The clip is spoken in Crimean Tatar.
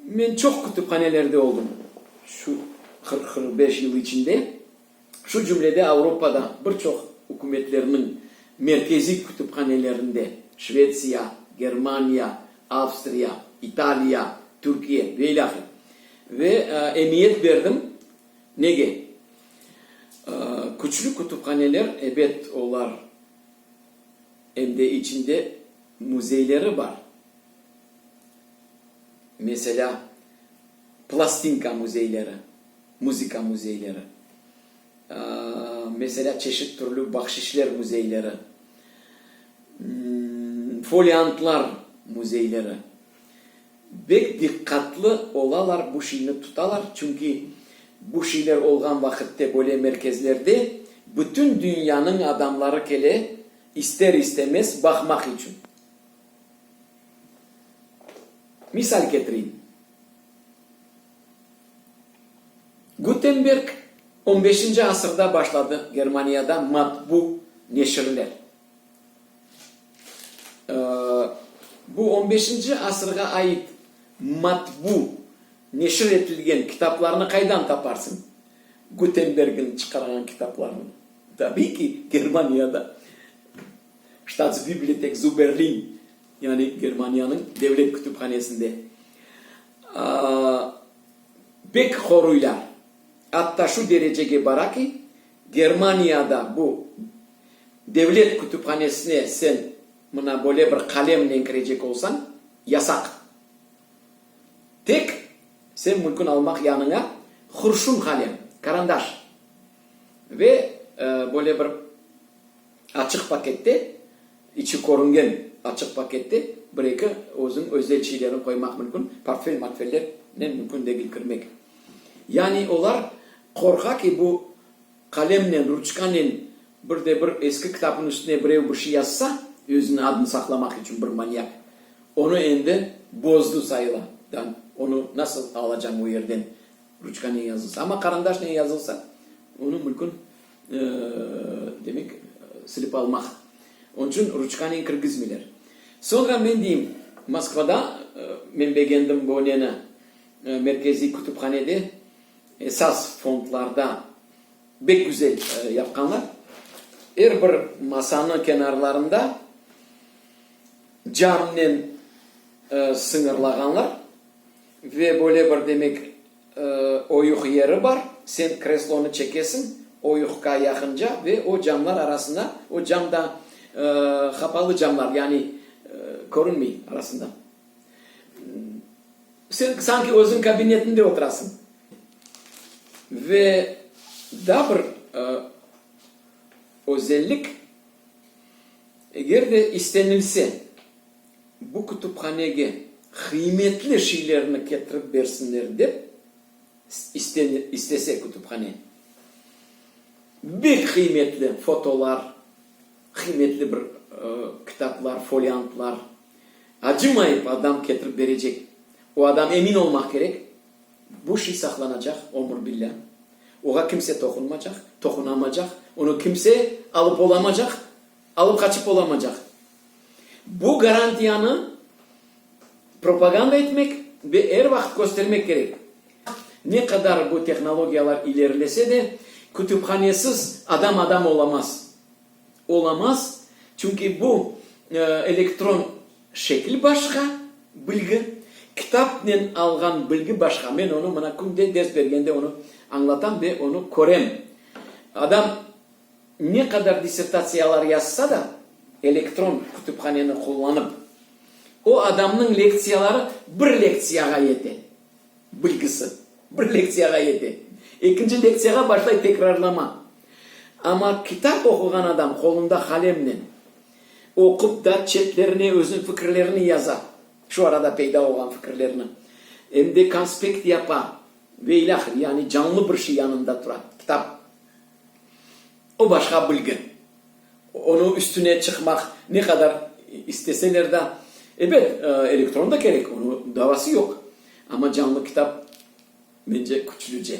Men çoq kütüphanelerde oldım şu qırq, qırq beş yıl içinde, şu cümlede Avropada bir çoq ükümetlerniñ merkeziy kütüphanelerinde, Şvetsiya, Germaniya, Avstriya, İtaliya, Türkiye ve ilâhre. Ve emiyet berdim. Nege? Küçlü kütüphaneler, ebet, olar em de içinde müzeyleri bar. Meselâ, plastinka müzeyleri, muzıka müzeyleri, meselâ, çeşit türlü bahşişler müzeyleri, foliantlar müzeyleri bek diqqatlı olalar, bu şeyni tutalar, çünki bu şeyler olğan vaqitte böyle merkezlerde bütün dünyanıñ adamları kele, ister-istemez, baqmaq içün. Misal ketireyim. Gutenberg on beşinci asırda başladı Germaniyada matbu neşirler. Bu on beşinci asırğa ait matbu neşir etilgen kitaplarnı qaydan taparsıñ? Gutenbergniñ çıqarğan kitaplarını, tabiy ki, Germaniyada. Ştatsbibliotek zu Berlin, yani Germaniyanıñ devlet kütüphanesinde bek qoruylar, atta şu derecege bara ki, Germaniyada bu devlet kütüphanesine sen mına böyle bir qalemnen kirecek olsañ, yasaq. Tek sen mülkün almaq yanıña hurşun qalem, karandaş ve böyle bir Açıq pakette, içi körüngen açıq pakette bir-eki özüniñ özel şeylerini qoymaq mümkün, portfel-mortfellernen mümkün degil kirmek. Yani olar qorqa ki, bu qalemnen, ruçkanen bir de bir eski kitapnıñ üstüne birev bir şey yazsa, özüniñ adını saqlamaq içün bir manyak, onı endi bozdu sayıla da, onı nasıl alacañ o yerden, ruçkanen yazılsa. Amma qarandaşnen yazılsa, onı mümkün Demek, silip almaq. Onıñ içün ruçkanen kirgizmeyler. Soñra men deyim, Moskvada men begendim bu neni, merkeziy kütüphanede esas fondlarda bek güzel yapqanlar. Er bir masanıñ kenarlarında camnen sıñırlağanlar ve böyle bir, demek, Oyuq yeri bar, sen kreslonı çekesiñ oyuqqa yaqınca ve o camlar arasında, o cam da qapalı camlar, yani körünmey arasında. Sen sanki özüñ kabinetinde oturasıñ. Ve daa bir özellik, eger de istenilse, bu kütüphanege qıymetli şeylerni ketirip bersinler dep istese kütüphane. Bek qıymetli fotolar, qıymetli bir kitaplar, foliantlar, acımayıp adam ketirip berecek. O adam emin olmaq kerek, bu şey saqlanacaq ömür billâ, oğa kimse toqunmacaq, toqunamacaq, onı kimse alıp olamacaq. Alıp qaçıp olamacaq. Bu garantiyanı propaganda etmek ve er vaqıt köstermek kerek. Ne qadar bu tehnologiyalar ilerilese de, kütüphanesiz adam adam olamaz. Olamaz, çünki bu elektron şekil başqa, bilgi, kitapnen alğan bilgi başqa. Men onı mına künde ders bergende onı añlatam ve onı körem. Adam. Ne qadar dissertatsiyalar yazsa da, elektron kütüphaneni qullanıp, o adamnıñ lektsiyaları bir lektsiyağa yete, bilgisi bir lektsiyağa yete, ekinci lektsiyağa başlay tekrarlama. Amma kitap oquğan adam qolunda qalemnen oqup da, çetlerine özüñ fikirlerini yaza, şu arada peyda olğan fikirlerini, em de konspekt yapa ve ilâhre, yani canlı bir şey yanında tura, kitap O başqa bilgi. Onıñ üstüne çıqmaq ne qadar isteseler da. Ebet, elektron da kerek, onıñ davası yoq, amma canlı kitap, mence, küçlüce.